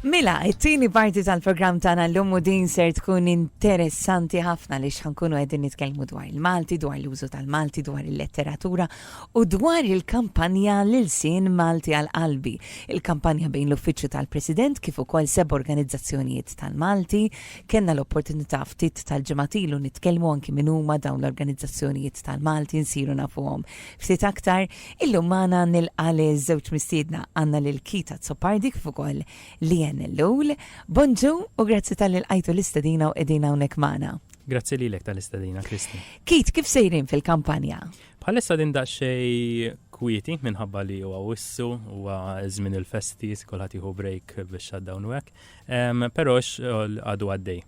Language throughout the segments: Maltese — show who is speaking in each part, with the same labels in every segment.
Speaker 1: Mela, it-tieni parti tal-programm tagħna llum u din ser tkun interessanti ħafna li xankunu qegħdin nitkellmu dwar il-Malti, dwar l-użu tal-Malti, dwar il-letteratura u dwar il-kampanja lil sin Malti għal qalbi. Il-kampanja bejn l-Uffiċċju tal-President kif ukoll seb organizzazzjonijiet tal-Malti. Kenna l-opportunità ftit tal-ġematilu nitkellmu anki minn huma dawn l-organizzazzjonijiet tal-Malti nsiru nafuhom ftit aktar. Illum magħna nilqa' liż-żewġ mistiedna, għandna lil Keith Azzopardi kif ukoll Leanne Ellul. Bonġu u grazzi talli lqajtu l-istedina u qegħdin hawnhekk magħna. Grazzi lilek
Speaker 2: tal-istedina, Kristi. Keith, kif sejrin
Speaker 1: fil-kampanja? Bħalissa din
Speaker 2: daqsxejn kwieti minħabba li huwa wissu huwa żmien il-festi kulħadd jieħu break biex shutdown u hekk. Però għadu għaddej.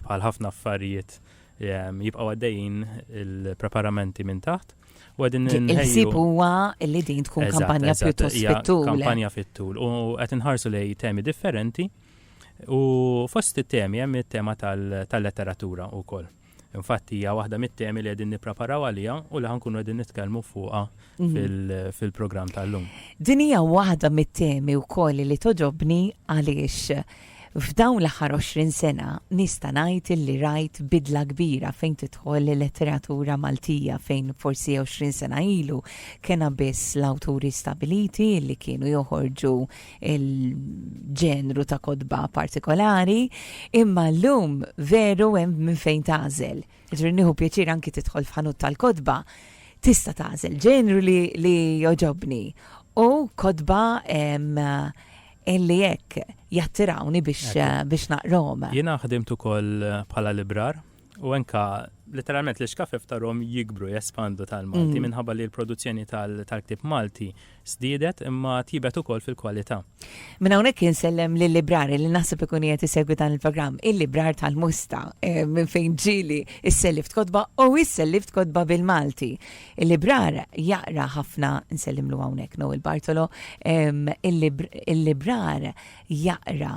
Speaker 2: Bħal ħafna affarijiet jibqgħu għaddejjin il-preparamenti minn taħt Il-sib
Speaker 1: huwa li din tkun kampanja pjuttost fit-tul. Kampanja fit-tul u
Speaker 2: qed inħarsu lej temi differenti u fost it-temi hemm it-tema tal-letteratura wkoll. Infatti hija waħda mit-temi li qegħdin nippreparaw għaliha u li ħankunu qegħdin nitkellmu fuqha mhm. fil-programm tal-lum. Din hija waħda
Speaker 1: mit-temi wkoll li toġobni għaliex F'dawn l-aħħar għoxrin sena nista' ngħid illi rajt bidla kbira fejn tidħol il-letteratura Maltija fejn forsi għoxrin sena ilu kena biss l-awturi stabiliti li kienu joħorġu l-ġenru ta' kotba partikolari imma llum veru hemm minn fejn tagħżel. Ġri nieħu pjaċir anki tidħol f'ħanut tal-kotba tista' tagħżel ġenru li, li joġobni u kotba Illi hekk jattirawni biex biex naqrahom. Jiena ħdimt ukoll
Speaker 2: bħala librar u enka letteralment l-ixkafef tarhom jikbru, jespandu tal-Malti minħabba li l-produzzjoni tal-ktieb Malti żdiedet imma tjibet ukoll fil-kwalità. Minn hawnhekk
Speaker 1: insellem lil-librari li naħseb ikun qiegħed isegwi dan il-programm, il-librar tal-Musta minn fejn ġieli sselliftkotba u sselliftkotba bil-Malti. Il-librar jaqra ħafna, nsellimlu hawnhekk Noel Bartolo, il-librar jaqra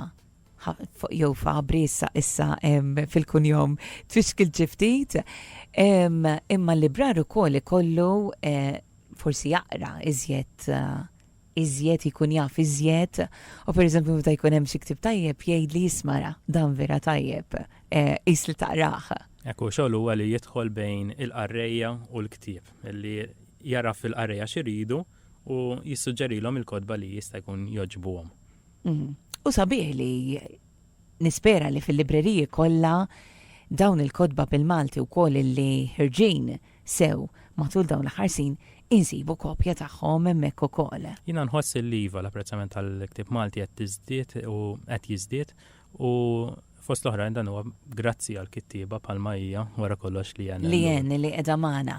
Speaker 1: jew fabri issa issa fil-kunjom tfixkil ġiftit, imma l-librar ukoll ikollu eh, forsi jaqra iżjed eh, iżjed jkun jaf iżjed u pereżempju meta jkun hemm xi ktib tajjeb jgħidli jismara dan vera tajjeb eh, qis li taqrah. Hekk hu xogħol huwa
Speaker 2: li jidħol bejn il-qarrejja u l-ktieb, li jaraf fil-qarrejja x'iridu u jissuġġerilhom il-kotba li jista' jkun jogħġbuhom. Mhm. U
Speaker 1: sabiħ li nispera li fil-libreriji kollha dawn il-kotba bil-Malti wkoll li ħirġin sew matul dawn l-aħħar sin insibu kopja tagħhom hemmhekk ukoll. Jiena nħoss li iva
Speaker 2: l-apprezzament tal-ktieb Malti qed tiżdied u qed jiżdied u fost l-oħrajn dan huwa grazzi għal kittieba bħalma hija wara kollox li hemm. Li hemm li qiegħda
Speaker 1: magħna.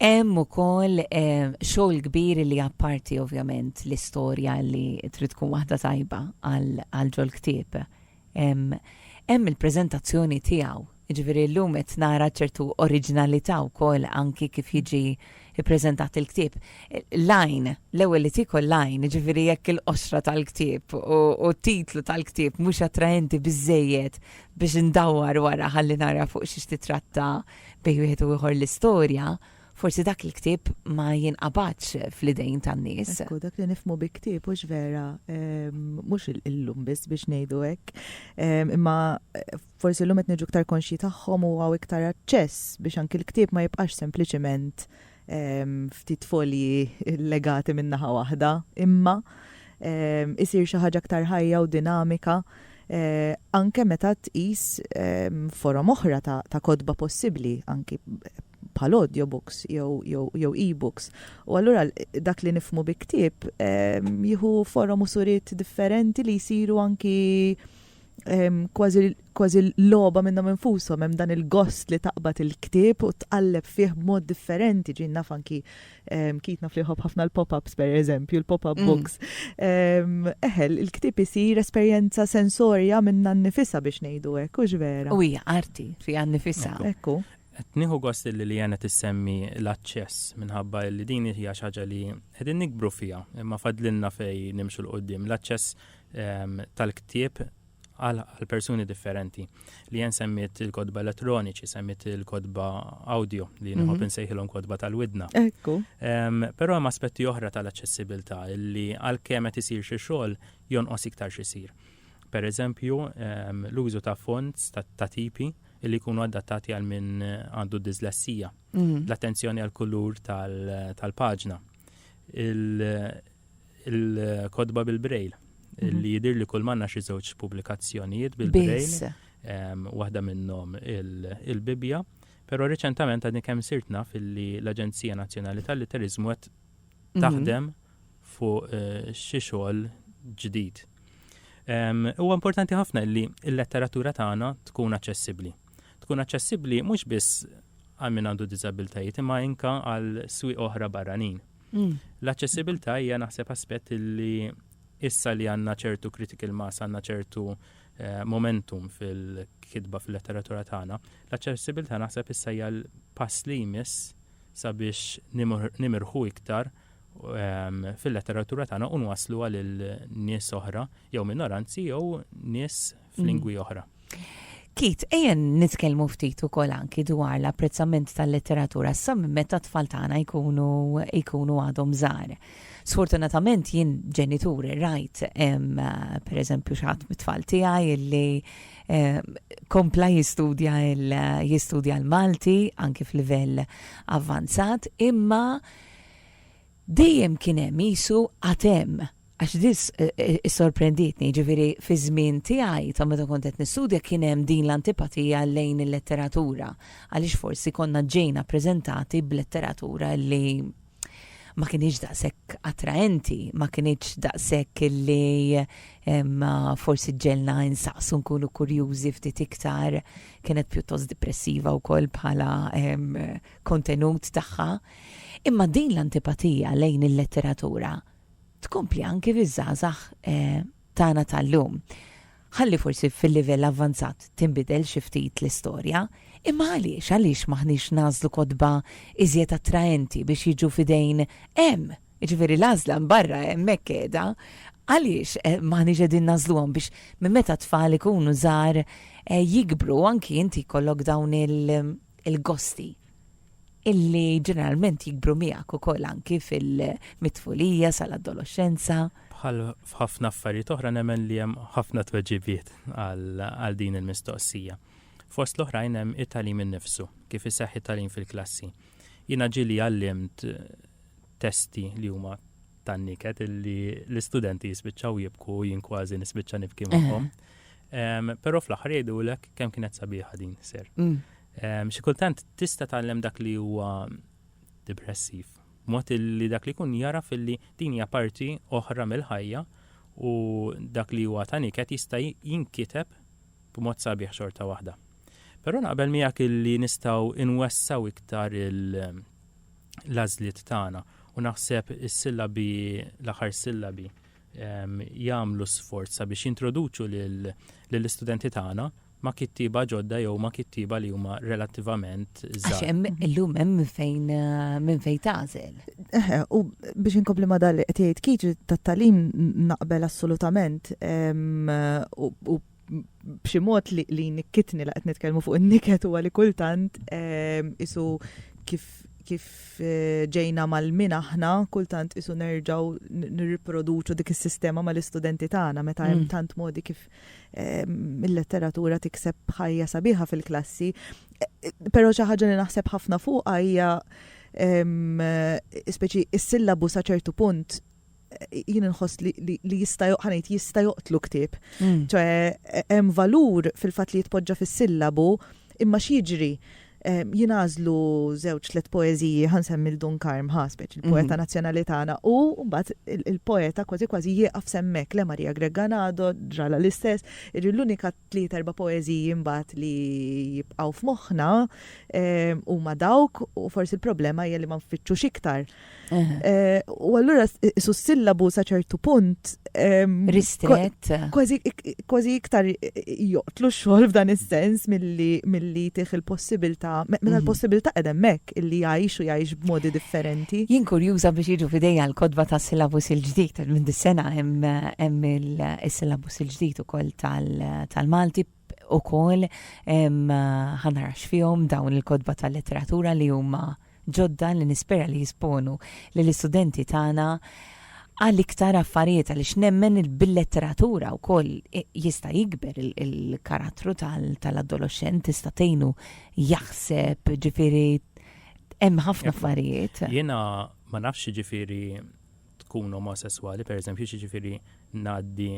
Speaker 1: Hemm ukoll eh, xogħol kbir li apparti ovvjament l-istorja li trid tkun waħda tajba għal ġol ktieb. hemm il-preżentazzjoni tiegħu. Jiġifieri llum qed nara ċertu oriġinalità wkoll anki kif jiġi ppreżentat il-ktieb. L-għajn, l-ewwel li tiekol l-għajn, jiġifieri jekk il-qoxra tal-ktieb u t-titlu tal-ktieb mhux attraenti biżżejjed biex indawwar wara ħalli nara fuq xiex titratta bejn wieħed u ieħor l-istorja, Forsi dak il-ktieb ma jinqabadx fl-idejn tan-nies. Ekku, dak li nifmu bi
Speaker 3: ktieb hux vera ehm, mhux illum biss biex ngħidu hekk. Ehm, imma eh, forsi llum qed niġu iktar konxji tagħhom u għaw iktar aċċess biex anki l-ktieb ma jibqax sempliċiment ehm, ftit folji legati minn naħa waħda, imma isir xi ħaġa aktar ħajja u dinamika Eh, anke meta tqis ehm, forom oħra ta' kodba possibbli, anki bħal audiobooks jew e-books. U allura dak li nifhmu bi ktieb jieħu forom u suriet differenti li jsiru anki kważi logħba minnhom infushom hemm dan il-gost li taqbad il-ktieb u tqalleb fih b'mod differenti ġin naf anki kitna fl ħafna l-pop-ups pereżempju, l-pop-up mm. books. Eħel, il-ktieb isir esperjenza sensorja minna nnifisha biex ngħidu hekk, u vera. U hija arti fiha
Speaker 1: nnifisha. Ekku. Qed
Speaker 3: nieħu gost
Speaker 2: illi Leanne qed issemmi l-aċċess minħabba illi din hija xi ħaġa li qegħdin nikbru fiha imma fadlilna fejn nimxu 'l quddiem. L-aċċess ehm, tal-ktieb għal persuni differenti. Li jen semmiet il-kodba elettroniċi, semmiet il-kodba audio li nħob mhm. nsejħilhom kodba tal-widna. Ekku.
Speaker 3: Però hemm
Speaker 2: aspetti oħra tal-aċċessibilità li għal kemet isir xi xogħol jonqos iktar xisir. Per eżempju, l-użu ta' fonts ta' tipi li jkunu adattati għal min għandu dislessija. Mm. L-attenzjoni għal kulur tal-paġna. Il-kodba bil-brejl mm-hmm. li jidir li kull manna xi żewġ pubblikazzjonijiet bil-brejl. Waħda minnhom il-Bibja, però reċentament għadni kemm sirtna fil-li l-Aġenzija Nazzjonali tal-Literizmu qed mm-hmm. taħdem fuq xi xogħol ġdid. Huwa importanti ħafna li l-letteratura tagħna tkun aċċessibbli. Tkun aċċessibbli mhux biss għal min għandu diżabiltajiet imma inka għal swieq oħra barranin. Mm. L-aċċessibilità hija naħseb aspett li issa li għandna ċertu critical mass, għandna ċertu eh, momentum fil-kitba fil-letteratura tagħna, l-aċċessibilità naħseb issa hija l-pass li jmiss sabiex nimirħu iktar fil-letteratura tagħna u nwassluha lil nies oħra jew minoranzi jew nies f'lingwi mm. oħra. Kit,
Speaker 1: ejjen nitkellmu ftit ukoll anki dwar l-apprezzament tal-letteratura sa minn meta tfal tagħna jkunu jkunu għadhom żgħar. Sfortunatament jien ġenituri rajt pereżempju xi ħadd mit-tfal tiegħi illi Eh, kompla jistudja jistudja l-Malti anki f'livell avvanzat imma Dejjem kien hemm qisu għad hemm, għax din issorprendietni, jiġifieri fiż-żmien tiegħi ta' meta kont qed nistudja kien hemm din l-antipatija lejn il-letteratura, għaliex forsi konna ġejna preżentati b'letteratura li ma kinitx daqshekk attraenti, ma kinitx daqshekk li forsi ġġegħelna insaqsu nkunu kurjużi ftit iktar, kienet pjuttost dipressiva wkoll bħala kontenut tagħha. Imma din l-antipatija lejn il-letteratura tkompli anki fiż-żgħażagħ tagħna tal-lum. Ħalli forsi fil-livell avvanzat tinbidel xi ftit l-istorja, imma għaliex, għaliex m'aħniex nagħżlu kotba iżjed attraenti biex jiġu f'idejn hemm, jiġifieri l-għażla mbarra hemmhekk qiegħda, għaliex m'aħniex qegħdin nagħżluhom biex minn meta t-tfal ikunu żgħar jikbru anki inti jkollok dawn il-gosti? illi ġeneralment jikbru miegħek ukoll anki fil-mitfulija sal-adoloxxenza. Bħal
Speaker 2: f'ħafna affarijiet oħra nemmen li hemm ħafna tweġibiet għal din il-mistoqsija. Fost l-oħrajn hemm it-tagħlim innifsu, kif iseħħ it-tagħlim fil-klassi. Jiena ġieli għallimt testi li huma tan-niket illi l-istudenti jispiċċaw jibku jien kważi nispiċċa nibki magħhom. Però fl-aħħar jgħidulek kemm kienet sabiħa din ser. Mm. Xi kultant tista' tgħallem dak li huwa depressiv, mod li dak li jkun jara filli din hija parti oħra mill-ħajja u dak li huwa ta' niket jista' jinkiteb b'mod sabiħ xorta waħda. Però naqbel miegħek illi nistgħu inwessaw iktar l-għażliet tagħna u naħseb is-sillabi l-aħħar sillabi jagħmlu sforz sabiex jintroduċu lill-istudenti tagħna ma' kittieba ġodda jew ma' kittieba li huma relattivament żgħar. Għax hemm illum hemm minn
Speaker 1: fejn minn fejn tagħżel. Eħe, u
Speaker 3: biex inkompli ma' dan li qed jgħid Keith tat-tagħlim naqbel assolutament u b'xi mod li jnikkitni li qed nitkellmu fuq in-niket huwa li kultant qisu kif kif ġejna mgħallmin aħna kultant qisu nerġgħu nirriproduċu dik is-sistema mal-istudenti tagħna meta hemm tant modi kif il-letteratura tikseb ħajja sabiħa fil-klassi, pero xi ħaġa li naħseb ħafna fuqha hija speċi is-sillabu sa ċertu punt jien nħoss li jista' joqħanejt jista' joqtlu ktieb. Mm. ċoħe hemm valur fil-fatt li jitpoġġa fis-sillabu imma x'jiġri jingħażlu żewġ tliet poeżiji ħa nsemmi Dun Karm ħa speċi il-poeta mhm. nazzjonali tagħna u mbagħad il-poeta kważi kważi jieqaf semmek le Maria Greganado ġrala l-istess, irri l-unika tliet erba' poeżiji mbagħad li jibqgħu f'moħħna huma dawk u forsi l-problema hija li ma nfittxux iktar Eh, u allura su sillabu sa ċertu punt. Ehm, Ristret. Kważi iktar joqtlu xogħol f'dan is-sens milli tih il-possibilità, minn mhm. l-possibilità edemmek illi jgħix u jgħix b'modi differenti. Jien kurjuża biex
Speaker 1: jiġu fidejja l-kodba ta' sillabus il-ġdid, minn dis-sena hemm il-sillabus il-ġdid ukoll tal-Malti ukoll ħa nara x'fihom dawn il-kotba tal-letteratura li huma ġodda li nispera li jisponu lill-istudenti tagħna għal iktar affarijiet għaliex nemmen bil-letteratura wkoll jista' jikber il-karattru tal-adoloxxent tista' tgħinu jaħseb ġifieri hemm ħafna affarijiet. Jiena ma
Speaker 2: nafx ġifieri tkun omosessuali, pereżempju, ġifieri ngħaddi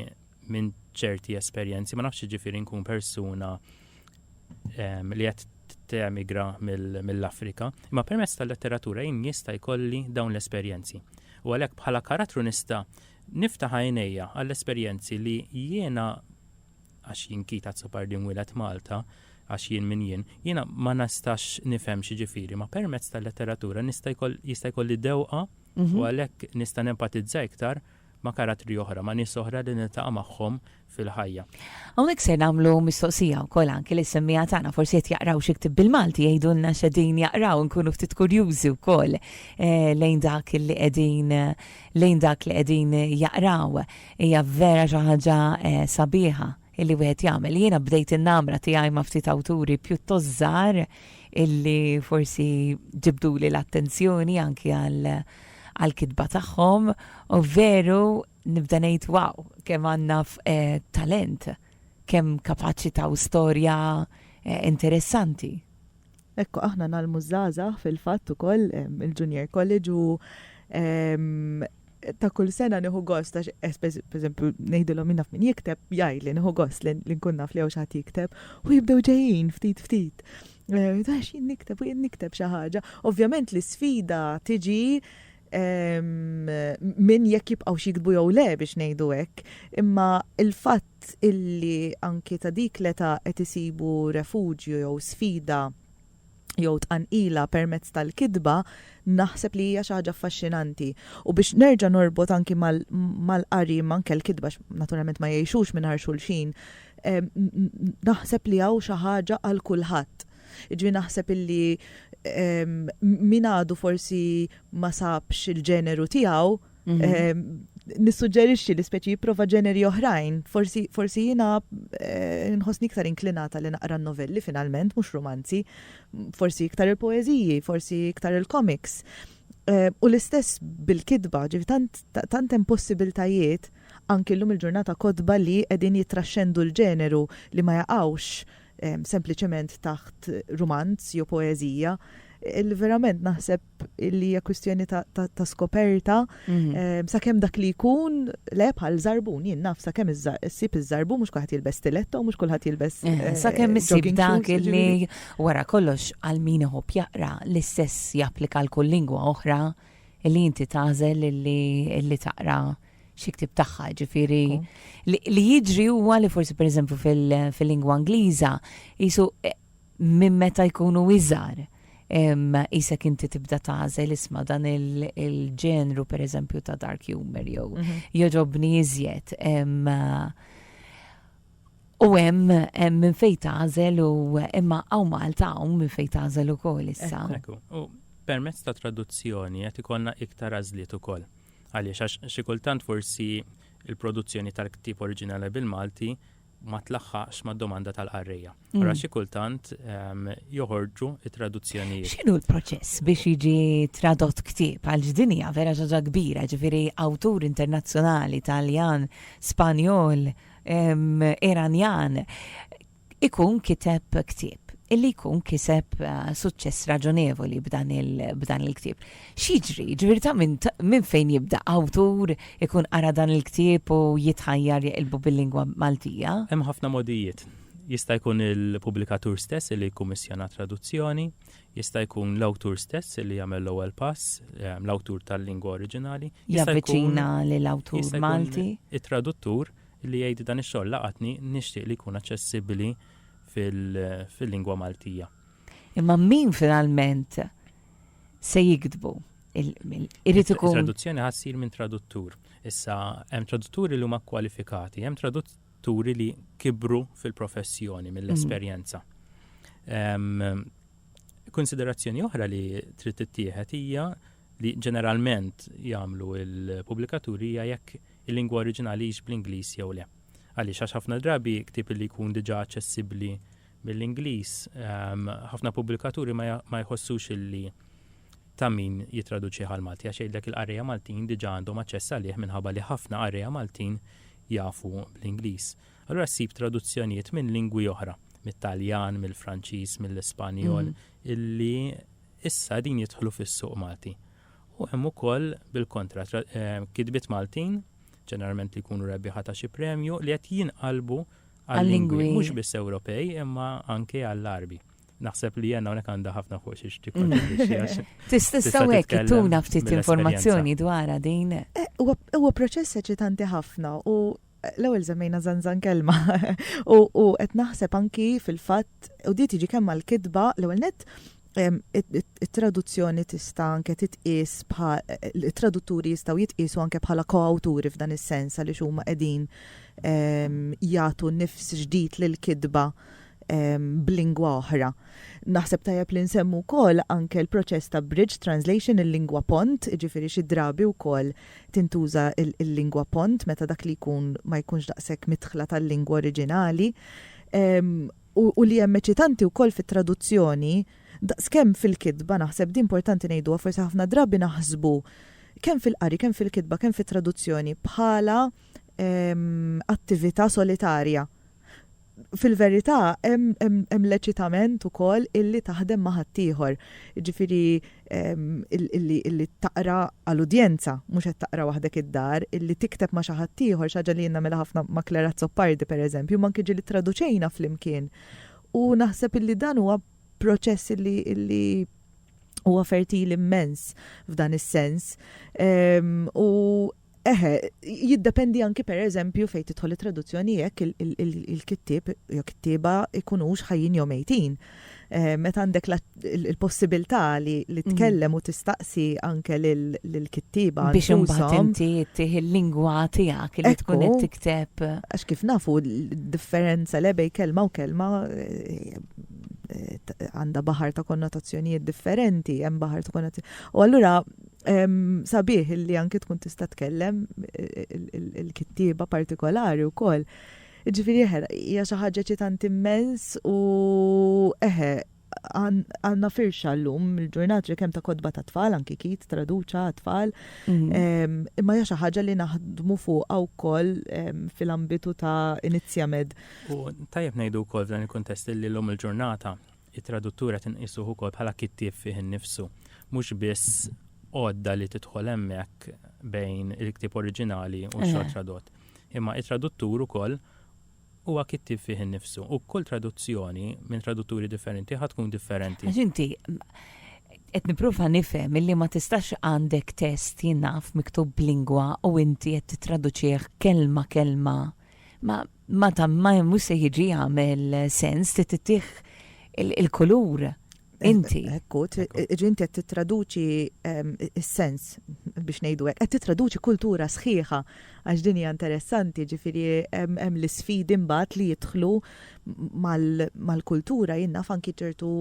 Speaker 2: minn ċerti esperjenzi, ma nafx ġifiri nkun persuna ehm, li qed temigra mill-Afrika, imma permezz tal-letteratura jien jista' jkolli dawn l-esperjenzi. U għalhekk bħala karattru nista' niftaħ għajnejja għall-esperjenzi li jiena għax jien kita tsopar din wilet Malta, għax jien min jien, jiena ma nistax nifhem xi ġifieri, ma permezz tal-letteratura nista' jkolli dewqa u mhm. għalhekk nista' nempatizza iktar ma' karattri oħra, ma' nies oħra li niltaqa' magħhom fil-ħajja. Hawnhekk ser
Speaker 1: nagħmlu mistoqsija wkoll anki lis-semmiegħa tagħna, forsi qed jaqraw xi ktieb bil-Malti jgħidulna x'qegħdin jaqraw inkunu ftit kurjużi wkoll eh, lejn dak li qegħdin lejn dak li qegħdin jaqraw. Hija vera xi ħaġa eh, sabiħa. illi wieħed jagħmel. Jiena bdejt in-namra tiegħi ma' ftit awturi pjuttost żgħar illi forsi ġibduli l-attenzjoni anki għal għal-kitba tagħhom u veru nibda ngħid wow, kemm għandna eh, talent, kemm kapaċità u storja eh, interessanti.
Speaker 3: Hekk aħna ngħallmu ż-żgħażagħ fil-fatt ukoll il-Junior College u ta' kull sena nieħu gost għax pereżempju ngħidilhom jien naf min jikteb jgħidli nieħu gost li nkun naf li hawn xi ħadd jikteb u jibdew ġejjin ftit ftit. Għax jien nikteb u jien nikteb xi ħaġa. Ovvjament l-isfida tiġi minn jekk jibqgħux jiktbu jew le biex ngħidu hekk, imma l-fatt fatt illi anki ta' dik l-età qed isibu refuġju jew sfida jew tqanqila permezz tal-kitba naħseb li hija xi ħaġa affaxxinanti. U biex nerġa' norbot anki mal-qari imma anke l-kitba għax naturalment ma jgħixux mingħajr xulxin, naħseb li hawn xi ħaġa għal kulħadd. Jiġifieri naħseb illi min għadu forsi ma sabx il-ġeneru tiegħu, nissuġġerixxi li speċi jipprova ġeneri oħrajn, forsi forsi jiena eh, nħossni iktar inklinata li naqra novelli finalment, mhux romanzi, forsi iktar il-poeżiji, forsi iktar il-komiks. Eh, u l-istess bil-kidba, ġifi tant, tant hemm possibiltajiet anki llum il-ġurnata kodba li qegħdin jitraxxendu l-ġeneru li ma jaqgħux eh, sempliċement taħt romanz jew poeżija. Il-verament naħseb illi hija kwistjoni ta' skoperta, mhm. ehm, sakemm dak li jkun le bħal żarbun, jien naf sakemm issib iż-żarbun mhux kulħadd jilbes stiletto, mhux kulħadd jilbes. Eh, eh, sakemm issib
Speaker 1: dak illi wara kollox għal min iħobb jaqra l-istess japplika l kull lingwa oħra illi inti tażel illi taqra xi ktib tagħha, ġifieri li jiġri huwa li forsi pereżempju fil-lingwa Ingliża jisu eh, minn meta jkunu iżgħar, qisek inti tibda tagħżel isma' dan il-ġenru pereżempju ta' dark humor jew mhm. jogħġobni iżjed. U hemm minn fejn tagħżel u imma hawn Malta hawn minn fejn tagħżel ukoll issa. U
Speaker 2: permezz ta' traduzzjoni qed ikollna iktar għażliet ukoll. Għaliex għax xi kultant forsi il-produzzjoni tal-ktib oriġinali bil-Malti ma tlaħħaqx mad-domanda tal-qarrejja. Ara xi kultant joħorġu t-traduzzjonijiet. X'inhu l-proċess
Speaker 1: biex jiġi tradott ktieb għal din hija vera xi ħaġa kbira, ġifieri awtur internazzjonali Taljan, Spanjol, Iranjan ikun kiteb ktieb illi jkun kiseb eh, suċċess raġonevoli b'dan il-ktieb. X'jiġri? Jiġifieri ta' min ta' minn fejn jibda? Awtur ikun qara dan il-ktieb u jitħajjar jeqilbu bil-lingwa Maltija? Hemm ħafna mogħdijiet.
Speaker 2: Jista' jkun il-pubblikatur stess li jikkummissjona traduzzjoni, jista' jkun l-awtur stess li jagħmel l-ewwel pass, l-awtur tal-lingwa oriġinali, jista' jkun Javviċina
Speaker 1: lil awtur jista' jkun Malti? it-traduttur
Speaker 2: li jgħid dan ix-xogħol laqatni nixtieq li jkun aċċessibbli fil-lingwa Maltija. Imma min
Speaker 1: finalment se jiktbu. Irid ikun. Traduzzjoni
Speaker 2: ħa ssir minn traduttur. Issa hemm tradutturi li huma kwalifikati, hemm tradutturi li kibru fil-professjoni mill-esperjenza. Mm. Konsiderazzjoni oħra li trid tittieħed hija li ġeneralment jagħmlu il-pubblikaturi hija jekk il-lingwa oriġinali hix bl-Ingliż jew le. Għaliex għax ħafna drabi ktib li jkun diġà aċċessibbli mill-Ingliż, ehm, ħafna pubblikaturi ma jħossux illi ta' min jitraduċi għal Malti għax jgħidlek il-qarrejja Maltin diġà għandhom aċċess għalih minħabba li ħafna qarrejja Maltin jafu bl-Ingliż. Allura ssib traduzzjonijiet minn lingwi oħra, mit-Taljan, mill-Franċiż, mill-Ispanjol, mm. illi issa din jidħlu fis-suq Malti. U hemm ukoll bil-kontra eh, kitbiet Maltin, ġeneralment li jkunu rebbieħa ta' xi premju, li qed jinqalbu għal-lingwi mhux biss Ewropej imma anke għall-Għarbi. Naħseb li jenna unek għanda ħafna fuq xiex tikkontribwixxi. Tista' sawek
Speaker 1: tuna ftit informazzjoni dwar din. Eh, huwa proċess
Speaker 3: eċitanti ħafna u eh, l-ewwel żemmejna zanzan kelma u qed naħseb anki fil-fatt u di tiġi kemm għall-kitba l-ewwel nett it-traduzzjoni tista' anke titqies bħal it-tradutturi jistgħu jitqiesu anke bħala koawturi f'dan is-sens għaliex huma qegħdin ehm, jagħtu nifs ġdid lil kitba ehm, b'lingwa oħra. Naħseb tajjeb li nsemmu wkoll anke l-proċess ta' bridge translation il-lingwa pont, ġifieri xi drabi wkoll tintuża il-lingwa pont meta dak li jkun ma jkunx daqshekk mitħla tal-lingwa oriġinali. Ehm, u li hemm eċitanti wkoll fit-traduzzjoni daqskemm fil-kitba naħseb, din importanti ngħiduha, forsi ħafna drabi naħsbu kemm fil-qari, kemm fil-kitba, kemm fit-traduzzjoni bħala attività solitarja. Fil-verità hemm l-eċitament ukoll illi taħdem ma' ħaddieħor. Jiġifieri illi taqra għal udjenza, mhux qed taqra waħdek id-dar, illi tikteb ma' xi ħadd ieħor, xi ħaġa li jien nagħmilha ħafna ma' Clara Azzopardi pereżempju, imma anki ġieli ttraduċejna flimkien. U naħseb illi dan huwa proċess illi illi huwa fertil immens f'dan is-sens. Ehm, u Eħe, jiddependi anki per eżempju fejn tidħol it-traduzzjoni jekk il-kittieb jew kittieba jkunux ħajjin jew mejtin. Meta għandek il-possibilità li mhm. tkellem u tistaqsi anke lill-kittieba. Biex imbagħad
Speaker 1: inti tih il-lingwa tiegħek li tkun qed tikteb. Għax kif nafu
Speaker 3: differenza lebej kelma u kelma eh, eh, għandha baħar ta' konnotazzjonijiet differenti, hemm baħar ta' konnotazzjonijiet. U allura Sabiħ illi anki tkun tista' tkellem il-kittieba partikolari wkoll. Ġifieri eħe, hija xi ħaġa ċitant immens u eħe, għandna firxa llum il-ġurnat li kemm ta' kodba ta' tfal anki kit traduċa tfal. Mhm. Imma hija xi ħaġa li naħdmu fuqha wkoll fil-ambitu ta' Inizjamed. U tajjeb
Speaker 2: ngħidu wkoll f'dan il-kuntest li llum il-ġurnata It-traduttur qed inqisuh ukoll bħala kittieb fih innifsu, mhux biss għodda li tidħol hemmhekk bejn il-ktieb oriġinali u x-xogħol tradott. Imma it-traduttur ukoll huwa kittieb fih innifsu u kull traduzzjoni minn tradutturi differenti ħa tkun differenti. Għax inti
Speaker 1: qed nipprova nifhem illi ma tistax għandek test jinaf miktub b'lingwa u inti qed titraduċih kelma kelma. Ma Ma ta ma mhux se jiġi jagħmel sens trid ittih il-kulur inti. Ekku,
Speaker 3: ġi inti qed tittraduċi ehm, is-sens biex ngħidu hekk, qed tittraduċi kultura sħiħa għax din hija interessanti, ġifieri ehm, hemm l-isfidi mbagħad li jidħlu mal-kultura jinnaf anki ċertu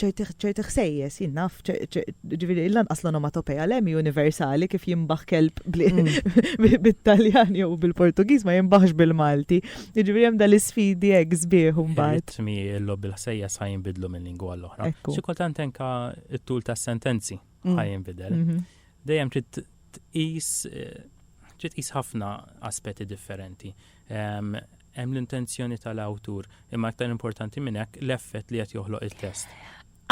Speaker 3: ċerti ħsejjes, jien naf, ġifieri lanqas l-onomatopeja l hi universali kif jimbaħ kelb mm. bit-Taljan jew bil-Portugiż ma jimbaħx bil-Malti. Ġifieri hemm dal-isfidi hekk sbieħ mbagħad. Ritmi l-lob il-ħsejja
Speaker 2: sa jinbidlu minn lingwa l-oħra. Xi kultant anke it-tul tas-sentenzi mm. ħa jinbidel. Mhm. Dejjem trid tqis eh, trid tqis ħafna aspetti differenti. Hemm l-intenzjoni tal-awtur, imma aktar importanti minn hekk, l-effett li qed joħloq it-test.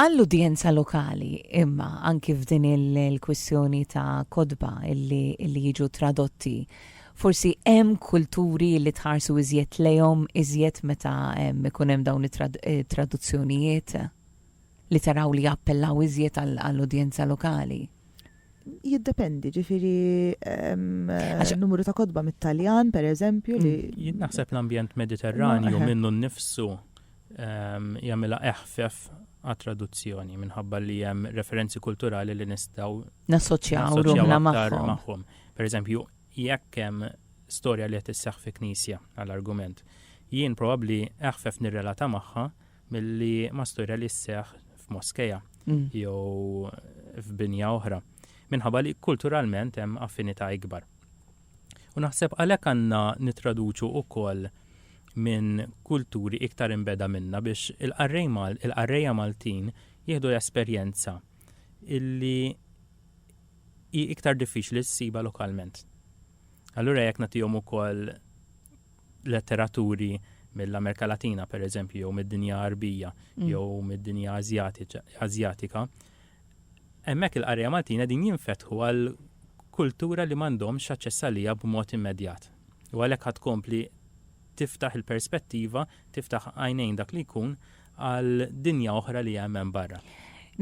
Speaker 2: Għall-udjenza
Speaker 1: lokali, imma, anki f'din il-kwistjoni ta' kotba li jiġu tradotti, forsi hemm kulturi li tħarsu iżjed lejhom iżjed meta jkun hemm dawn it-traduzzjonijiet li taraw li jappellaw iżjed għall-udjenza lokali?
Speaker 3: Jiddependi, ġifiri numru ta' kodba mit-Taljan, per eżempju, li. Mm, naħseb l-ambjent
Speaker 2: mediterranju minnu nnifsu jagħmilha eħfef għat traduzzjoni minħabba li hemm referenzi kulturali li nistgħu nassoċjaw
Speaker 1: ruħna magħhom. Per eżempju,
Speaker 2: jekk hemm storja li qed isseħħ fi knisja għall-argument, jien probabbli eħfef nirrelata magħha milli mastura li sseħħ f'moskeja mm. jew f'binja oħra, minħabba li kulturalment hemm affinità ikbar. U naħseb għalhekk għandna nitraduċu wkoll minn kulturi iktar imbeda minna biex il-qarrejja Maltin jieħdu l-esperjenza illi hi iktar diffiċli ssiba lokalment. Allura jekk nagħtihom ukoll letteraturi mill-Amerika Latina, per eżempju, jew mid-dinja Arbija, mm. jew mid-dinja Azjatika, hemmhekk il-qarja Maltina din jinfetħu għal kultura li m'għandhomx aċċess għalija b'mod immedjat. U għalhekk ħad kompli tiftaħ il-perspettiva, tiftaħ għajnejn dak li jkun għal dinja oħra li hemm hemm barra.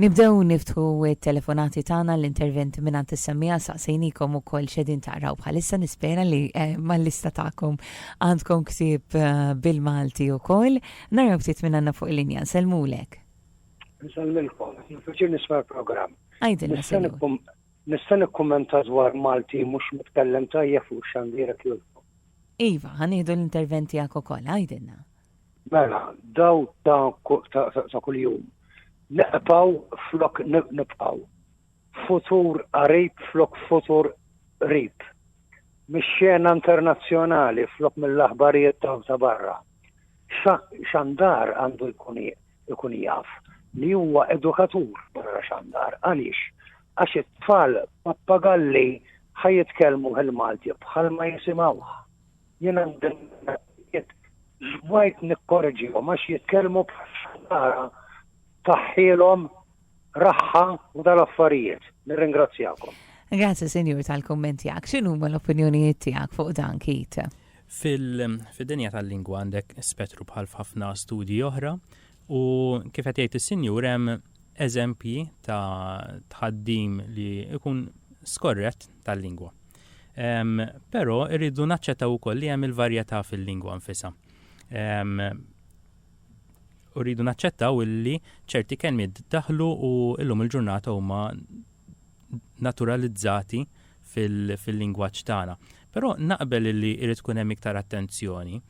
Speaker 2: Nibdew
Speaker 1: niftħu t-telefonati tagħna għall-interventi mingħand is-semmiegħa saqsejniekom ukoll x'qegħdin taqraw bħalissa nispera li eh, mal-lista tagħkom għandkom ktieb eh, bil-Malti ukoll. Naraw ftit minn għandna fuq il-linja, nsellmulek. Nsellmilkom,
Speaker 4: nfiċir nisma' l-programm. Għajdilna sellum.
Speaker 1: Nista'
Speaker 4: nikkummenta dwar Malti mhux mitkellem tajjeb fuq xandirek jolkom. Iva, ħanieħdu
Speaker 1: l-interventi għak ukoll, għajdilna. Mela,
Speaker 4: daw ta' kuljum. Neqpaw flok nibqaw. Futur qarib flok futur qrib. Mix-xena internazzjonali flok mill-aħbarijiet ta' barra. Xandar għandu jkun jaf li huwa edukatur barra xandar. Għaliex? Għax it-tfal pappagalli ħa jitkellmuh il-Malti bħalma jisimgħuh. Jien għandi l-affarijiet żmajt nikkoreġihom għax jitkellmu bħal xħallara tfaħħilhom raħħa wara l-affarijiet. Nirringrazzjakom. Grazzi Sinjur
Speaker 1: tal-kumment tiegħek. X'inhuma l-opinjonijiet tiegħek fuq dan Kit? Fil-dinja
Speaker 2: tal-lingwa għandek spettru bħal f'ħafna studji oħra U kif qed jgħid is-Sinjur hemm eżempji ta' tħaddim li jkun skorrett tal-lingwa. Però irridu naċċettaw ukoll li hemm il-varjetà fil-lingwa nfisha. U rridu naċċettaw illi ċerti kelmiet daħlu u illum il-ġurnata huma naturalizzati fil-lingwaġġ tagħna. Però naqbel illi irid tkun hemm iktar attenzjoni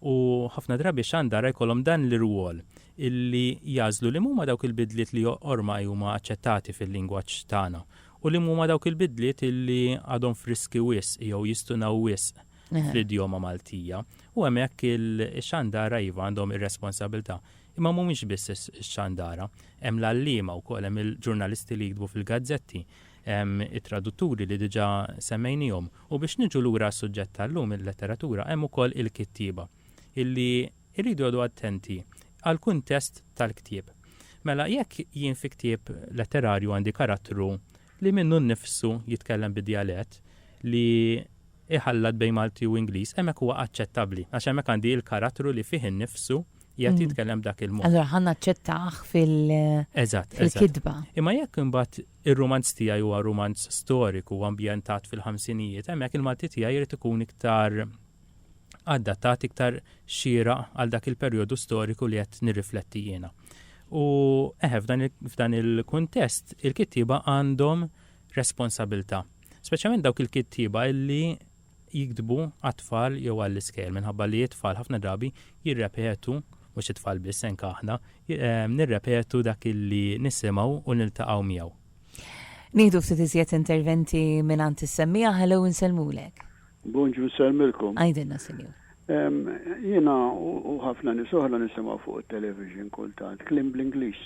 Speaker 2: u ħafna drabi xandara jkollhom dan l-irwol illi jagħżlu li m'huma dawk il-bidliet li ormai huma aċċettati fil-lingwaġġ tagħna u li m'huma dawk il-bidliet illi għadhom friski wisq jew jistunaw wisq fl-idjoma Maltija. U hemmhekk ix-xandara iva għandhom ir-responsabilità. Imma m'humiex biss ix-xandara, hemm l-għalliema wkoll, hemm il-ġurnalisti li jiktbu fil-gazzetti, Hemm it-tradutturi li diġà semmejniehom. U biex niġu lura għas-suġġett tal-lum, il-letteratura, hemm ukoll il-kittieba, illi jridu jqogħdu attenti għall-kuntest tal-ktieb. Mela jekk jien fi ktieb letterarju għandi karattru li minnu nnifsu jitkellem bi djalett li jħallat bejn Malti u Ingliż, hemmhekk huwa aċċettabbli għax hemmhekk għandi l-karattru li fih innifsu qiegħed jitkellem b'dak il-mod. Allura ħa naċċettah
Speaker 1: fil-kitba. Eżatt, eżatt. Imma jekk
Speaker 2: imbagħad Ir-rumanz tiegħi huwa rumanz storiku ambjentat fil-ħamsinijiet. Hemmhekk il-Malti tiegħi jrid ikun iktar adattat, iktar xieraq għal dak il-perjodu storiku li qed nirrifletti jiena. U eħe f'dan il-kuntest il-kittieba għandhom responsabilta. Speċjalment dawk il-kittieba illi jiktbu għat-tfal jew għall-iskejjel minħabba li t-tfal ħafna drabi jirrepetu, mhux it-tfal biss anke aħna, nirrepetu dak li nisimgħu u niltaqgħu miegħu. Nieħdu
Speaker 1: ftit iżjed interventi mingħand is-semmiegħa, hello insellmulek. Bonġu
Speaker 5: nsellmilkom. Għidilna sinjur.
Speaker 1: Jiena
Speaker 5: u ħafna nies oħra nisimgħu fuq it-television kultant kliem bl-Ingliż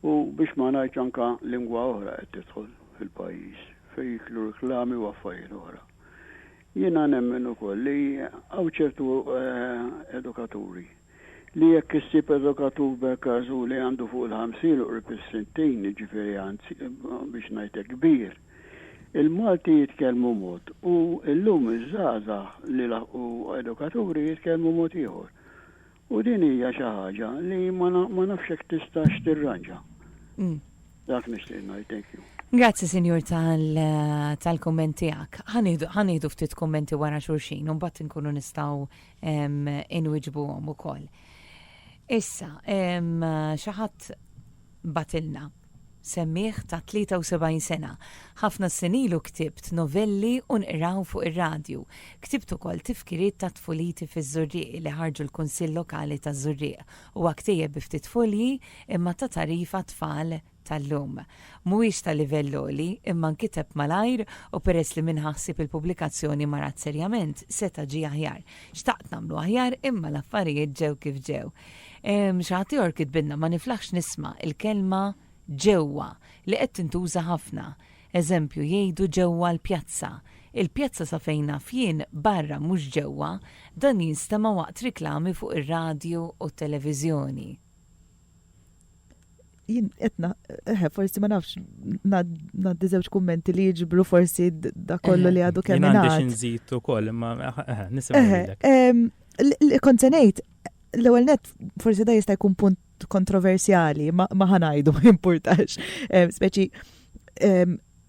Speaker 5: u biex ma ngħidx anke lingwa oħra qed tidħol fil-pajjiż fejn jidħlu reklami u affarijiet oħra. Jiena nemmen ukoll li hawn ċertu edukaturi li jekk issib edukatur b'ekas u li għandu fuq il-ħamsin u qrib is-sittin, jiġifieri anzi biex ngħid hekk kbir, il-Malti jitkellmu mod u llum iż-żgħażagħ li laħqu edukaturi jitkellmu mod ieħor. U din hija xi ħaġa li ma ma nafx jekk tistax tirranġa. Dak nixtieq ngħid, thank you. Grazzi Sinjur
Speaker 1: tal tal-kumment tiegħek. Ħa nieħdu ħa nieħdu ftit kummenti wara xulxin u mbagħad inkunu nistgħu inwiġbuhom ukoll. Issa, xi ħadd batilna. Semmiegħ ta' 73 sena, Ħafna s-snin ilu ktibt novelli u nqraw fuq ir-radju. Ktibt ukoll tifkiriet ta' tfuliti fiż-Żurrieq li ħarġu l-Kunsill Lokali taż-Żurrieq. Huwa ktejjeb bi ftit fulji imma ta' tagħrif għat-tfal tal-lum. Mhuwiex ta' livell għoli imma nkiteb malajr u peress li min ħa ħsieb il-pubblikazzjoni marat serjament seta' ġie aħjar. Xtaqt nagħmlu aħjar imma l-affarijiet ġew kif ġew. Hemm xi ħadd ieħor kitbilna, Ma niflaħx nisma' l-kelma ġewwa li qed tintuża ħafna. Eżempju, jgħidu ġewwa l-pjazza. Il-pjazza sa fejn naf jien barra mhux ġewwa, dan jinstema' waqt riklami fuq ir-radju u t-televiżjoni.
Speaker 3: jien etna, eħe, eh, forsi ma nafx, naddi zewċ kummenti li jġibru forsi da kollu li għadu kemm. Għandi xinżit u koll,
Speaker 2: ma eh, eh, nisimgħu. Kontenejt,
Speaker 3: l-ewel net, forsi da jista' jkun punt kontroversjali, ma ħanajdu, ma importax. Speċi,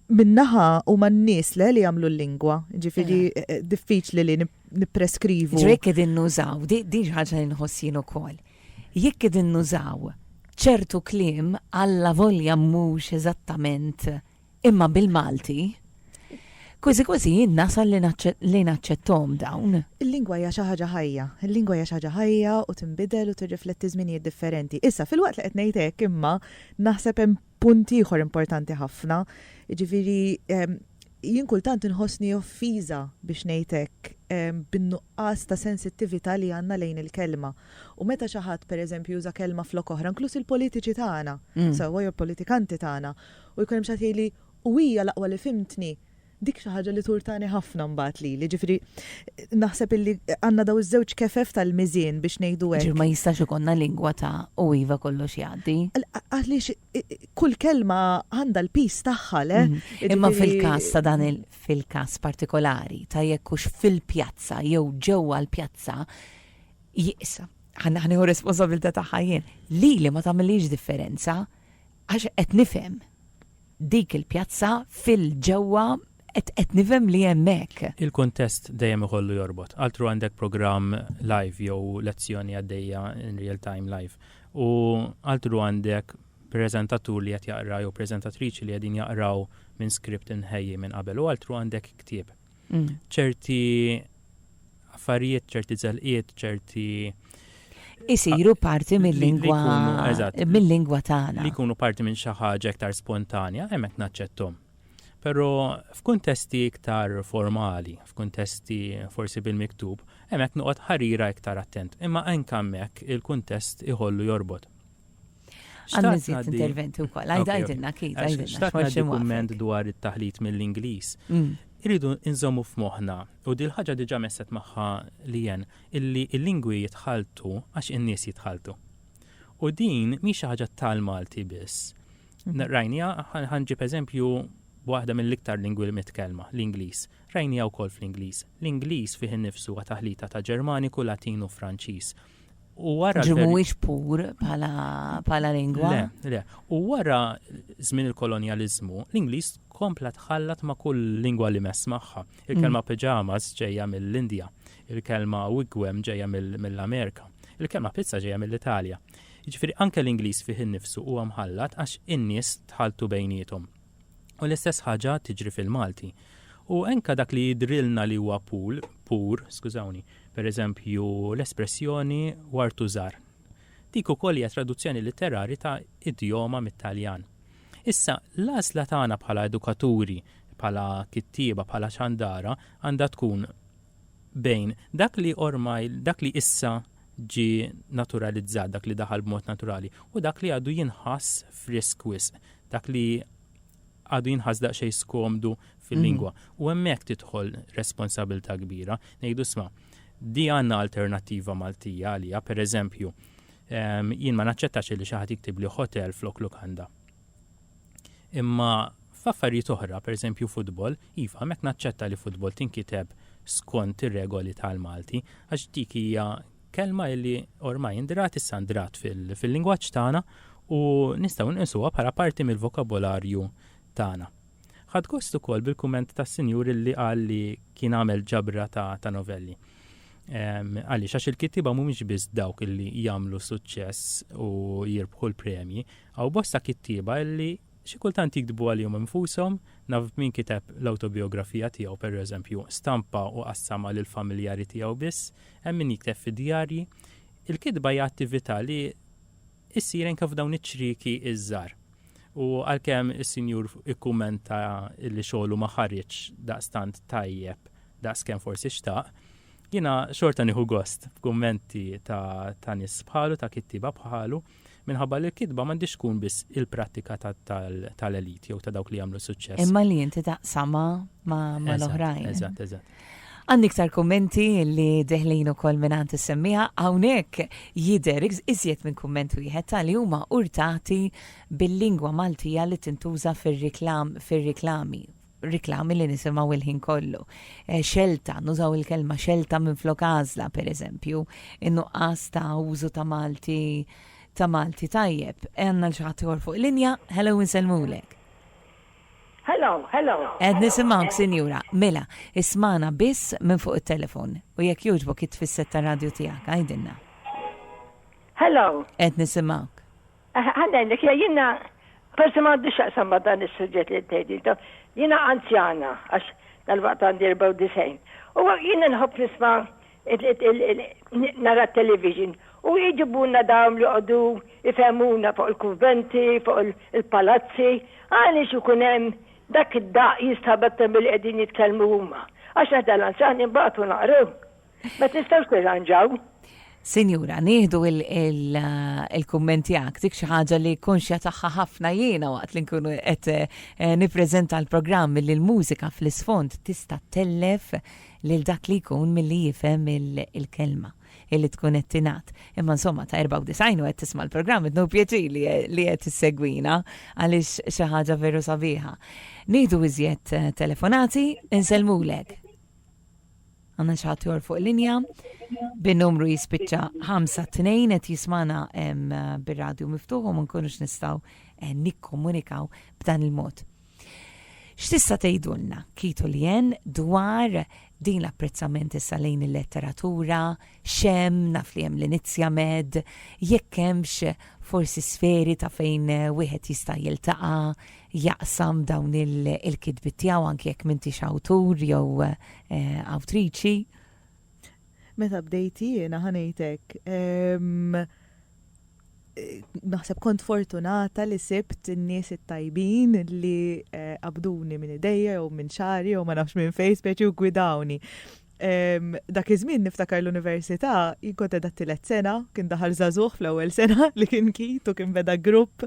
Speaker 3: minnaħa u man nis le li jamlu l-lingwa, ġifiri diffiċli li nipreskrivu. Ġrek edin nużaw,
Speaker 1: di ħagġa nħossin u koll. Jekk qegħdin nużaw ċertu kliem allavolja mhux eżattament imma bil-Malti, kważi kważi jien nasal li naċċetthom dawn. Il-lingwa hija xi ħaġa
Speaker 3: ħajja. Il-lingwa hija xi ħaġa ħajja u tinbidel u tirrifletti żminijiet differenti. Issa, filwaqt li qed ngħid hekk imma, naħseb hemm Punt ieħor importanti ħafna, jiġifieri jien kultant inħossni offiża biex ngħid hekk bin-nuqqas ta' sensittività li għandna lejn il-kelma. U meta xi ħadd pereżempju juża kelma flok oħra, inkluż il-politiċi tagħna, sewwa jew politikanti tagħna, u jkun hemm xi ħadd jgħidli, u hija l-aqwa li fhimtni, Dik xi ħaġa li turtani ħafna mbagħad lili, ġifieri naħseb illi għandna daw iż-żewġ kefef tal-miżien biex ngħidu hekk. Ġifieri ma jistax ikollna lingwa
Speaker 1: ta' u iva kollox jgħaddi. Għaliex
Speaker 3: kull kelma għandha l-pis tagħha le. Mhm. Imma fil-każ
Speaker 1: ta' dan il-każ partikolari ta' jekk hux fil-pjazza jew ġewwa l-pjazza jiqsa. Ħanneħu responsabilità tagħha jien. Lili ma tagħmilix differenza għax qed nifhem Dik il-pjazza fil-ġewwa qed qed nifhem li hemm hekk. Il-kuntest dejjem
Speaker 2: ikollu jorbot. Altru għandek programm live jew lezzjoni għaddejja in real time live. U altru għandek preżentatur li qed jaqra jew preżentatriċi li qegħdin jaqraw minn script imħejji minn qabel u altru għandek ktieb. Mm. ċerti affarijiet, ċerti zelqiet, ċerti.
Speaker 1: Isiru ah, parti mill-lingwa. Mill-lingwa tagħna. Li jkunu parti
Speaker 2: minn xi ħaġa iktar spontanja, hemmhekk naċċettom. Però f'kuntesti iktar formali, f'kuntesti forsi bil-miktub, hemmhekk noqgħod ħarira iktar attent. Imma anke hemmhekk il-kuntest iħollu jorbot. Għanna
Speaker 1: zjed interventi u koll, għajdilna kif, għajdilna. Xtaqt għaddi kumment
Speaker 2: dwar it-taħlit mill-Inglis. Mm. Iridu nżommu f'moħna, u dil ħaġa diġa messet maħħa li jen, illi il-lingwi jitħaltu għax in-nies jitħaltu. U din mi xi ħaġa tal-Malti biss. Mhm. Rajnija, ħanġib eżempju waħda mill-iktar lingwi mitkelma, l-Inglis. Rajnija wkoll fl-Inglis. L-Inglis fih innifsu għataħlita ta' Ġermaniku, Latin u Franċiż. U wara. Ġi
Speaker 1: mhuwiex pur bħala lingwa. Le, le. U
Speaker 2: wara żmien il-kolonjaliżmu, l-Ingliż kompla tħallat ma' kull lingwa li mess magħha. Il-kelma mm. pyjamas ġejja mill-Indja, il-kelma wigwem ġejja mill-Amerika, il-kelma pizza ġejja mill-Italja. Jiġifieri anke l-Ingliż fih innifsu huwa mħallat għax in-nies tħaltu bejniethom. U l-istess ħaġa tiġri fil-Malti. U enka dak li jidrilna li huwa pool, pur, skużawni, per eżempju l-espressjoni wartu żar. Dik ukoll hija traduzzjoni litterari ta' idjoma mit-Taljan. Issa, l-għażla tagħna bħala edukaturi, bħala kittieba, bħala xandara, għandha tkun bejn dak li ormai, dak li issa ġie naturalizzat, dak li daħal b'mod naturali, u dak li għadu jinħass frisk wisq, dak li għadu jinħass daqsxejn skomdu fil-lingwa. U hemmhekk tidħol responsabilità kbira. Ngħidu sma, di għandna alternattiva Maltija għaliha, pereżempju, jien ma naċċettax li xi ħadd jiktibli hotel flok lukanda. Imma f'affarijiet oħra, pereżempju futbol, iva, hemmhekk naċċetta li futbol tinkiteb skont ir-regoli tal-Malti għax dik hija kelma li ormai ndrat issa ndrat fil-lingwaġġ tagħna u nistgħu nqisuha bħala parti mill-vokabolarju tagħna. Ħadt gost ukoll bil-kumment tas-sinjur li qal li kien għamel ġabra ta', ta novelli. Ehm, għaliex, għax il-kittiba mhumiex biss dawk li jagħmlu suċċess u jirbħu l-premji, Hawn bosta kittieba illi xi kultant jiktbu għalihom infushom, naf min kiteb l-awtobijografija tiegħu pereżempju, stampa u qassamha lill-familjari tiegħu biss, hemm min jikteb fi djarji. Il-kitba hija attività li issir anke f'dawn iċ-ċrieki iż-żgħar. U għalkemm is-Sinjur ikkumenta li xogħlu ma ħareġ daqstant tajjeb daqskemm forsi xtaq, jiena xorta nieħu gost f'kummenti ta' nies bħalu, ta' kittieba bħalu, Minħabba li l-kitba m'għandhiex tkun biss il-prattika tal-elite jew ta' dawk li jagħmlu suċċess. Imma li inti taqsama
Speaker 1: ma' l-oħrajn. Eżatt, eżatt.
Speaker 2: Għandi iktar
Speaker 1: kummenti li deħlin ukoll minn għand semmiha hawnhekk jidher iżjed minn kumment wieħed tal huma urtati bil-lingwa Maltija li tintuża fir-reklam fir-reklami riklami li nisimgħu l-ħin kollu, xelta, nużaw il-kelma xelta minflok għażla, pereżempju, in-nuqqas ta' użu ta' Malti ta' Malti tajjeb. Għandna xi ħadd ieħor fuq linja, hello insellmulek.
Speaker 6: Hello, hello. Qed
Speaker 1: nisimgħuk, sinjura. Mela, ismagħna biss minn fuq it-telefon u jekk jogħġbok it-tfisset tar-radju tiegħek, għidilna.
Speaker 6: Hello. Qed
Speaker 1: nisimgħuk. Ħa ngħidlek,
Speaker 6: jiena forsi m'għandux x'jaqsam ma' dan is-suġġett li qed ngħid intom, jiena anzjana għax dalwaqt għandi 94, u jiena nħobb nisma' nara t-television u jġibulna dawn li joqogħdu jfehmuna fuq il-kunventi, fuq il-palazzi, għaliex ikun hemm dak id-daqq jinstabat milli qegħdin jitkellmu huma. Għax aħna l-anzjani nbagħtu naqru. Ma tistgħux tirranġaw? Sinjura,
Speaker 1: nieħdu il-kumment tiegħek dik xi ħaġa li konxja tagħha ħafna jiena waqt li nkunu qed eh, nippreżenta l-programm li l-mużika fl-isfond tista' tellef lil dak li jkun milli jifhem il-kelma illi tkun qed tingħad. Imma insomma ta' 94 u qed tisma' l-programm qed pjaċi li qed issegwina għaliex xi ħaġa veru sabiħa. Nieħdu iżjed eh, telefonati, insellmulek. Għanna xaħat jor fuq linja, bin-numru jispicċa 5-2 et jismana bil-radio miftuħu ma nkunux nistaw eh, nikkomunikaw b'dan il-mod. X'tista' tgħidulna kitu li jen dwar din l-apprezzament issa lejn il-letteratura, x'hemm, naf li hemm l-Inizja Med, jekk hemmx forsi sferi ta' fejn wieħed jista' jiltaqa' jaqsam dawn il-kitbi tiegħu anke jekk m'intix awtur jew eh, awtriċi.
Speaker 3: Meta bdejt jiena ħanejtek ehm, naħseb kont fortunata li sibt n-nies it-tajbin li eh, qabduni minn idejja jew minn xari jew ma nafx minn fejn speċi u gwidawni. Dak iż-żmien niftakar l-università, jien kont qiegħda t-tielet sena, kien daħal żagħżugħ fl-ewwel sena li kien kit u kien beda grupp.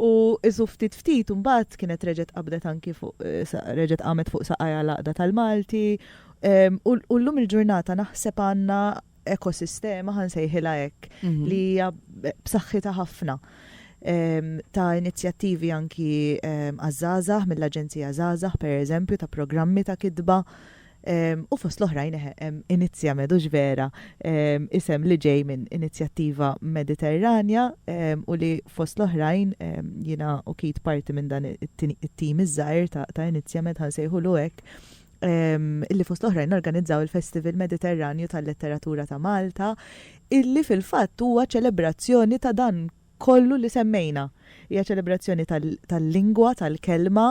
Speaker 3: U isu ftit ftit imbagħad kienet reġgħet qabdet anki fuq reġgħet qamet fuq saqajha l-Għaqda tal-Malti. U llum il-ġurnata naħseb għandna ekosistema, ħan sejħila hekk, mhm. li hija b'saħħitha ħafna ta' inizjattivi anki għazzazah, mill-Aġenzija Zazah, per eżempju, ta' programmi ta' kidba. U fost l-oħrajn inizja medux vera isem li ġej minn inizjattiva mediterranja u li fost l-oħrajn jina u kit parti minn dan it-tim iż-żajr ta' inizja med ħansejħu l illi fost l-oħrajn organizzaw il-Festival Mediterranju tal-Letteratura ta' Malta, illi fil-fatt huwa ċelebrazzjoni ta' dan kollu li semmejna. Hija ċelebrazzjoni tal-lingwa, tal-kelma,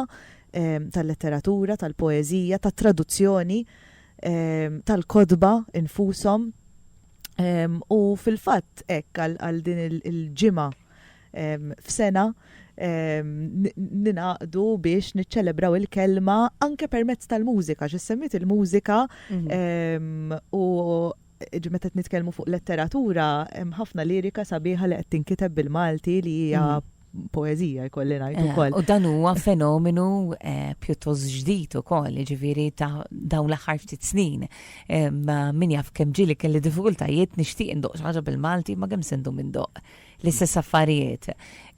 Speaker 3: tal-letteratura, tal-poeżija, tat-traduzzjoni, tal-kotba infushom. U fil-fatt hekk għal din il-ġimgħa f'sena ninaqdu biex niċċelebraw il-kelma anke permezz tal-mużika, x'issemmit il-mużika mhm. u meta nitkellmu fuq letteratura hemm ħafna lirika sabiħa li qed tinkiteb bil-Malti li hija mhm. poezija jkolli ngħid eh, ukoll. U dan huwa fenomenu
Speaker 1: eh, pjuttost ġdid ukoll, ġifieri ta' dawn l-aħħar ftit snin. Min jaf kemm ġieli kelli diffikultajiet nixtieq indoq ħaġa bil-Malti ma kemm sendu minn doq. L-istess affarijiet.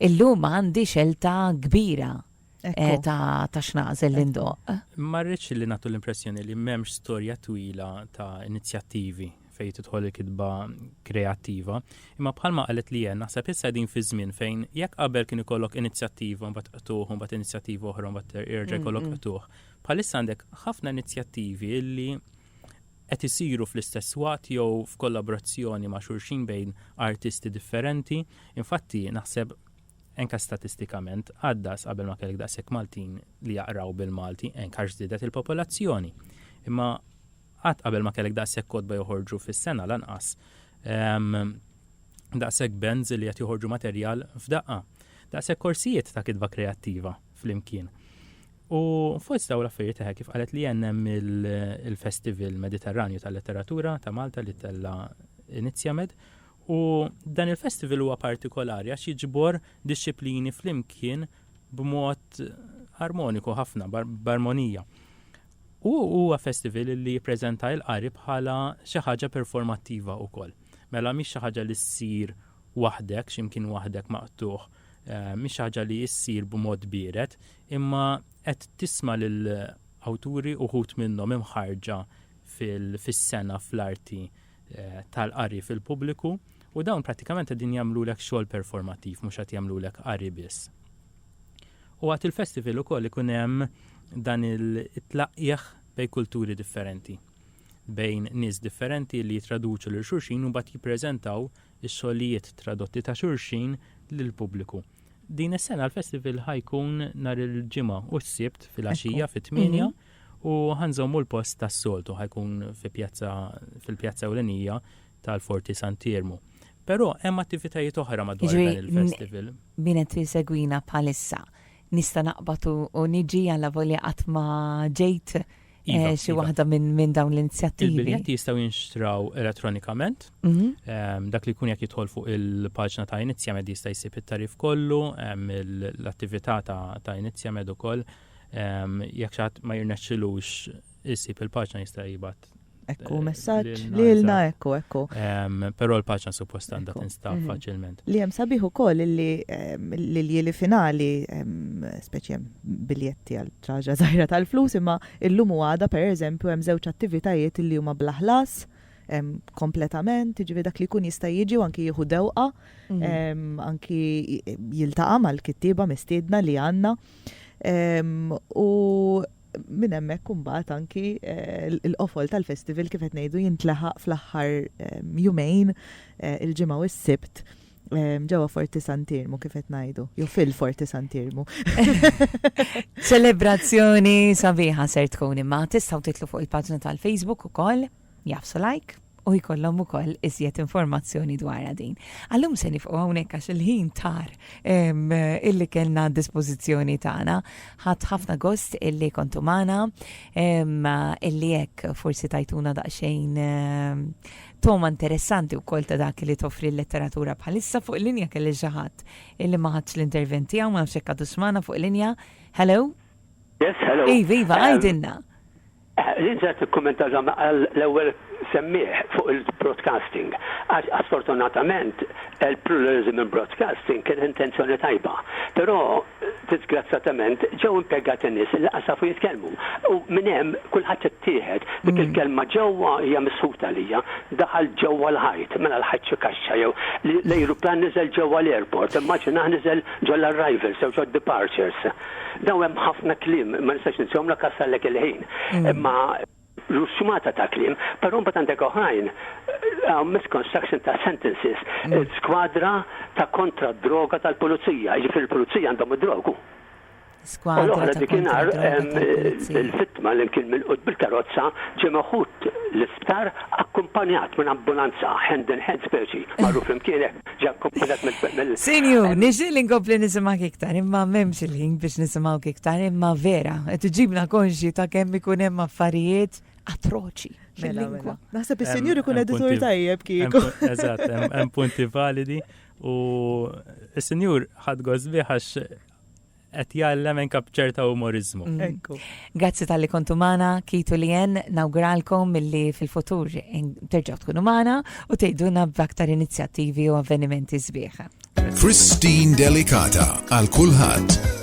Speaker 1: Illum għandi xelta kbira ta' x'naqżel li ndoqq. Ma rridx li nagħtu
Speaker 2: l-impressjoni li m'hemmx storja twila ta' inizjattivi fejn tidħol il-kitba kreattiva, imma bħalma qalet li hemm naħseb issa qegħdin fi żmien fejn jekk qabel kien ikollok inizjattiva mbagħad qtuħ mbagħad inizjattiva oħra mbagħad jerġa' jkollok qtuħ. Bħalissa għandek ħafna inizjattivi li qed isiru fl-istess waqt jew f'kollaborazzjoni ma' xulxin bejn artisti differenti. Infatti, naħseb anke statistikament, għaddas qabel ma kellek daqshekk Maltin li jaqraw bil-Malti, anke għax żdiedet il-popolazzjoni. Imma qatt qabel ma kellek daqshekk kotba joħorġu fis-sena lanqas ehm, daqshekk bands li qed joħorġu materjal f'daqqa. Daqshekk korsijiet ta' kitba kreattiva. flimkien. U fost daw l-affarijiet eħe kif qalet li jennem il-Festival Mediterranju tal-Letteratura ta' Malta li tella Inizjamed. U dan il-festival huwa partikolari għax jiġbor disċiplini flimkien b'mod armoniku ħafna, barmonija. U huwa festival li jippreżenta il-qari bħala xi ħaġa performattiva wkoll. Mela mhix xi ħaġa li ssir waħdek, x'imkien waħdek maqtuħ eh, mhix ħaġa li issir b'mod biered, imma qed tisma' lil awturi uħut minnhom imħarġa fis-sena fl-arti eh, tal-qari fil-pubbliku u dawn pratikament qegħdin jagħmlulek xogħol performattiv mhux qed jagħmlulek qari biss. U għat il-festival ukoll ikun hemm dan il-tlaqqieħ bej kulturi differenti bejn nies differenti li jitraduċu lil xulxin u bat jippreżentaw is-xogħlijiet tradotti ta' xulxin lill-pubbliku. Din is-sena l-festival ħa jkun nhar il-Ġimgħa u s-Sibt filgħaxija fit-tmienja u ħa nżommu l-post tas-soltu, ħa jkun fi pjazza fil-pjazza ewlenija tal-Forti Sant'Iermu. Però hemm attivitajiet oħra madwar dan il-festival. Jiġifieri min qed isegwina
Speaker 1: bħalissa Nista' naqbad u niġi allavolja qatt ma ġejt Iva, xi iva. waħda minn min dawn l-inizjattivi. Il-biljetti jistgħu jinxtraw
Speaker 2: elettronikament. Mhm. Ehm, Dak li jkun jekk jidħol fuq il-paġna ta' Inizjamed jista' jsib it-tarif kollu, ehm, il- l-attività ta' ta' Inizjamed ukoll. Ehm, Jekk xi ħadd ma jirnexxilux isib il-paġna jista' jibgħat Ekku, messaġġ
Speaker 3: li lna ekku, ekku. Però l-paċna
Speaker 2: suppost għandha tinstab mhm. faċilment. Li hemm sabiħ ukoll
Speaker 3: li l-jili finali, speċi biljetti għal traġa żgħira tal-flus, imma illum u għada pereżempju hemm żewġ attivitajiet li huma bla ħlas kompletament, ġivi dak li kun jista' jiġi u anki jieħu dewqa, mhm. anki jiltaqa' mal-kittieba mistiedna li għandna. U Minn hemmhekk imbagħad anki l-qofol tal-festival kif qed ngħidu jintlaħaq fl-aħħar jumejn, il-Ġimgħa u s-Sibt, ġewwa Forti Sant'Iermu kif qed ngħidu, jew fil-Forti Sant'Iermu.
Speaker 1: Ċelebrazzjoni sabiħa ser tkun imma tistgħu titlu fuq il-paġna tal-Facebook ukoll. jagħfsu like u jkollhom ukoll iżjed informazzjoni dwarha din. Għallum se nifqu hawnhekk għax il-ħin tar illi kellna dispożizzjoni tagħna. Ħadd ħafna gost illi kontu magħna illi hekk forsi tajtuna daqsxejn toma interessanti u kol ta' dak li toffri l-letteratura bħalissa fuq linja kelli ġaħat illi maħatx l-interventi għaw ma' xekka duxmana fuq linja. Hello? Yes, hello.
Speaker 4: Iva, iva, um, għajdinna.
Speaker 1: Um, Lindsay
Speaker 4: tikkummenta dak li qal l-ewwel semmiegħ fuq il-broadcasting, għax sfortunatament il-pluralism in broadcasting kien intenzjoni tajba, però diżgrazzjatament ġew impjegati nies li lanqas jafu jitkellmu u minn hemm kulħadd ittieħed. Dik il-kelma ġewwa hija misħuta għalija. Daħal ġewwa l-ħajt, mela l-ħajt xi kaxxa jew? L-ajruplan niżel ġewwa l-airport, immaġinah niżel ġol-arrivals jew ġod-departures. Dawn hemm ħafna kliem, ma nistax ninsihomlek għax sallek il-ħin. Imma ġust xmata ta' kliem, però mbagħad għandek oħrajn, hawn misconstruction ta' sentences, skwadra ta' kontra d-droga tal-pulizija, jiġifieri l-pulizija għandhom id-drog, u. U
Speaker 1: l-oħra dikinhar
Speaker 4: il-vittma li kien milqut bil-karozza ġie meħud l-isptar akkumpanjat minn ambulanza, hand in hand speċi, marru flimkien hekk. Ġa kkomplitat mill. Sinjur, nixtieq li
Speaker 1: nkompli nisimgħek iktar, imma m'hemmx il-ħin biex nisimgħuk iktar, imma vera, qed iġibna konxji ta' kemm ikun hemm affarijiet atroċi fil-lingwa. Naħseb is-sinjur ikun
Speaker 3: editur tajjeb kieku. Eżatt, hemm
Speaker 2: punti validi u s-sinjur ħad għax Qed jgħallem anke b'ċerta umoriżmu. Ekku. Grazzi
Speaker 1: talli kontu magħna, Kit u Lien, nawguralkom milli fil-futur terġgħu tkunu magħna u tgħidulna b'aktar inizjattivi u avvenimenti
Speaker 7: sbieħ. Christine
Speaker 1: Delicata għal kulħadd.